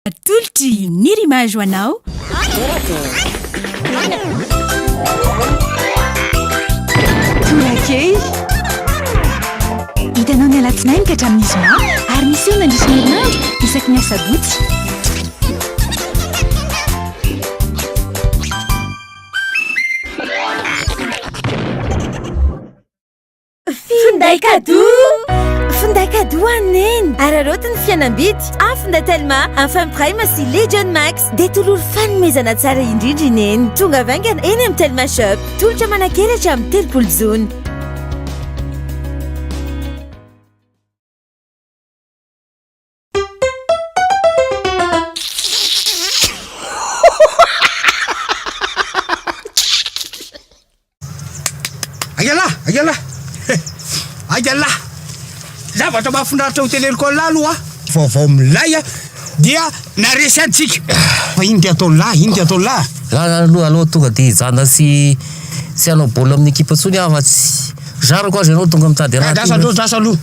Atolotry ny rimage ho anao. Torakely. Hitanao ny alatsinainy ka hatramin'ny zoma ary miseho mandritra ny herinandro isaky ny asabotsy. Finday cadeau Finday cadeau an'i Neny Ary aroty ny fihenam-bidy amin'ny finday Telma, Enfin Prime sy Legion Max Dia tololo fanomezana tsara indrindra i Neny Tonga avy haingana eny amin'ny Telma Shop Tolotra manan-kery hatramin'ny telopolo jona Zavatra mahafinaritra hotely Ercole aloha vaovao milay a dia naresy antsika fa iny dia ataon'ny lahy iny dia ataon'ny lahy aloha aloha tonga dia hijanona sy sy hanao baolina amin'ny ekipa intsony aho fa tsy Zarako aza ianao tonga mitady anah ty. Lasa aloha lasa aloha.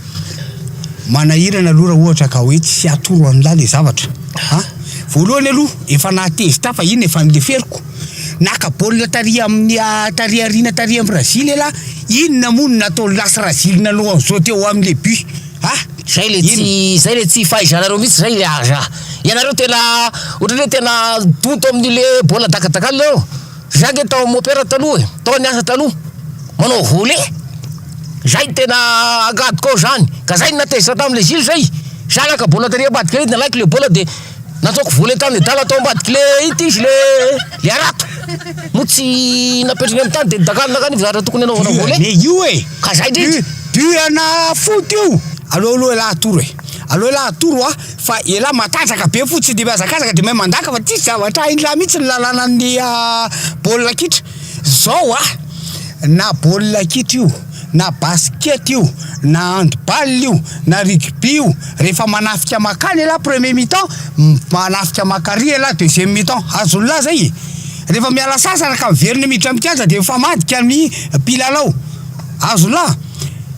Manahirana aloha raha ohatra ka hoe tsy atoro anlah ilay zavatra a! Voalohany aloha efa nahatezitra ahy fa iny efa nileferiko. Naka baolina tary amin'ny tary aoriana tary amin'ny razily ialahy, inona moa no nataon'i lasy razily nanao an'izao teo amin'ny le but a! Zay le tsy zay le tsy fahaizanareo mihitsy zay le aza ianareo tena ohatrany hoe tena donto amin'ny le baolina dakadakanina eo. Za nge tao mopera taloha e, tao niasa taloha manao volet, zay tena agadiko ao zany, ka zay natezitra tamle zilo zay, za naka bola tary ambadika ary nalaiko le bola de nataoko volet tany adala tao ambadiko le ity izy le le harato, moa tsy napetrany amy tany de nidakalona akany io zara tokony anaovana volet, du an'e io e, ka zay ndrindra. Du du ana foty io, aleo aloha ialahy atoro e, aleo ialahy atoro hoa. Fa elah matanjaka be fo tsy de mihazakazaka de mahay mandaka fa tsisy zavatra hainlah mihitsy ny lalanan'ny baolina kitra zao a na baolina kitra io na basket io na handball io na rugby io rehefa manafika makany elah premier mi-temps manafika makary elah deuxième mi-temps azonlah zay e rehefa miala sasana ka miverina miditra mikianja de mifamadika ny mpilalao azonlah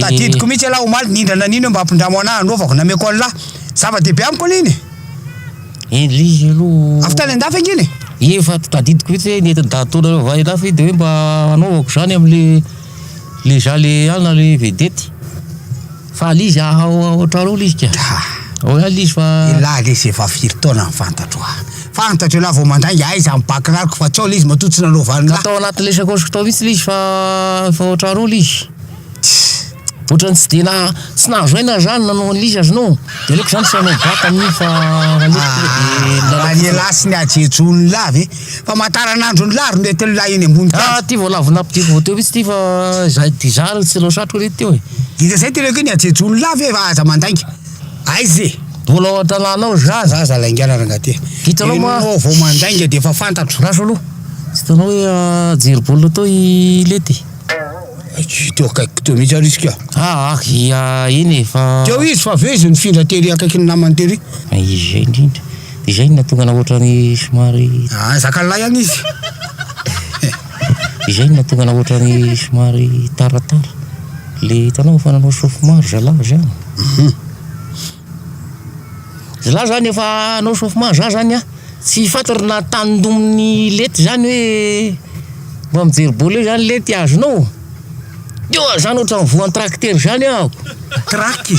Tadidiko mihitsy ialahy omaly nindrana nino hoe mba ampindramo anah anofako nameko anlah zava dehibe amiko aloha iny e eh le izy aloha avy tany andafy ange iny e efa tadidiko mihitsy hoe nety dahatona avy any andafy de hoe mba anaovako zany amle le za le ana le vedety fa le izy haha otrany ao le izy ka ao ihany le izy fa elah le izy efa firy taona ny fantatro ah Fantatro ialahy vao mandainga aiza ny bakirariko fa tsaola izy matoa tsy nanao valindraha. Ka tao anaty ilay sakaosiko tao mihitsy ilay izy fa efa ohatran'ny roa ilay izy. Tss. Ohatran'ny tsy dia na tsy nahazo aina zany nanao an'ilay izy aza no. Dia aleoko zany tsy hanao baka amin'io fa aleoko tonga dia milalao. Raha ny elah sy ny hajejony lah ve. Famataranandrony lah ry nety lah eny ambony tany. Ah ty vao lavo nampidiko vao teo mihitsy ty fa zay dia zany tsy nanao satroka re teo e. Dia zay ty ilay hoe ny hajejony lah ve fa aza mandainga. Aiza e! Mbola ao an-tanàna ao za. Za za laingaina rangaty. Hitanao moa. Enao vao mandainga de efa fantatro. Raso aloha. Tsy hitanao hoe ajery baolina tao i Lety e. Tsy teo akaikiko teo mihitsy ary izy ka. Ah ah ia eny e fa. Teo izy fa avy eo izy nifindra tery akaikin'ny namany tery. Ah izay indrindra. Dia izay no nahatonga anao ohatrany somary. Ah zakan'lahy any izy. Izay no nahatonga anao ohatrany somary taratara le hitanao efa nanao sofy maro zalahy zany. Zalahy zany efa hanao sofy maro za zany a tsy fantatra na tandominy lety zany hoe mba mijery bol eo zany lety azonao ô. Teo aho zany ohatrany voan'ny tracteur zany aho. Traque,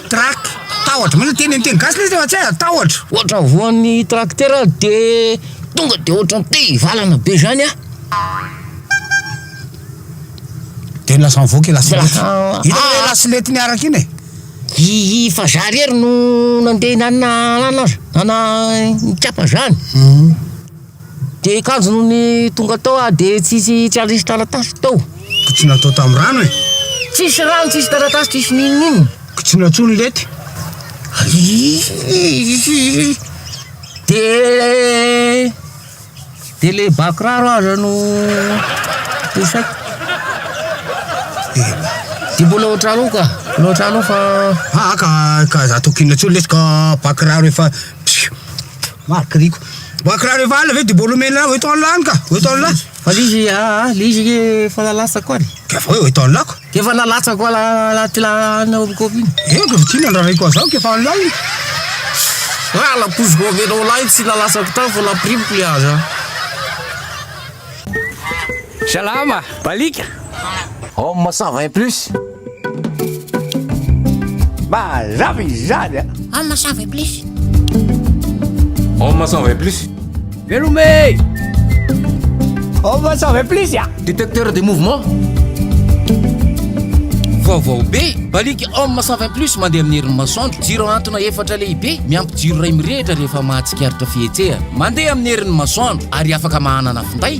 traque, tahotra, moa zany teny teny gasy le izy fa tsy hay, tahotra. Ohatrany voan'ny tracteur aho de. Tonga de ohatran te hivalana be zany a. De lasa mivoaka i lasilety. Lasa- Hitanao ilay ah. lasilety miaraka iny e. Hihi fa za rery no nandeha nana anana azy, nana nikapa zany. De kanjo no ny tonga tao ah de tsisy tsy ary nisy taratasy tao. Ko tsy natao tam rano e. Tsisy rano tsisy taratasy tsisy n'inon'inona. Ko tsy natsoa ny lety. Hihi. De de le ba kiraro aza no isaiko. Ela. De mbola ohatranao ka, mbola ohatranao fa. Aa ka ka za tokony inona tsony lesy ka ba kiraro efa psiu. Marc Rico. Ba kiraro efa alina ve de mbola omena hoe to anla any ka, hoe to anla. Fa izy aa le izy anie efa nalatsako any. Ka fa hoe eto anilako? Dia efa nalatsako ala anaty la ana hopikopy iny. Eny ka fa tsinona ny rarahiako an'izany ka efa anilao iny. Ra la couche governo lahy tsy nalatsako tany fa napirimiko le aza. Salama! Balika! Homme ça va plus. Mazava izany a! Homme sans veut plus. Homme sans veut plus. Velome! Homme sans veut plus a! Détecteur des mouvements. Vaovao be, baliky Homme sans veut plus mandeha amin'ny herin'ny masoandro. Jiro antona efatra lehibe, miampy jiro iray mirehitra rehefa mahatsikaritra fihetsehana. Mandeha amin'ny herin'ny masoandro ary afaka mahanana finday.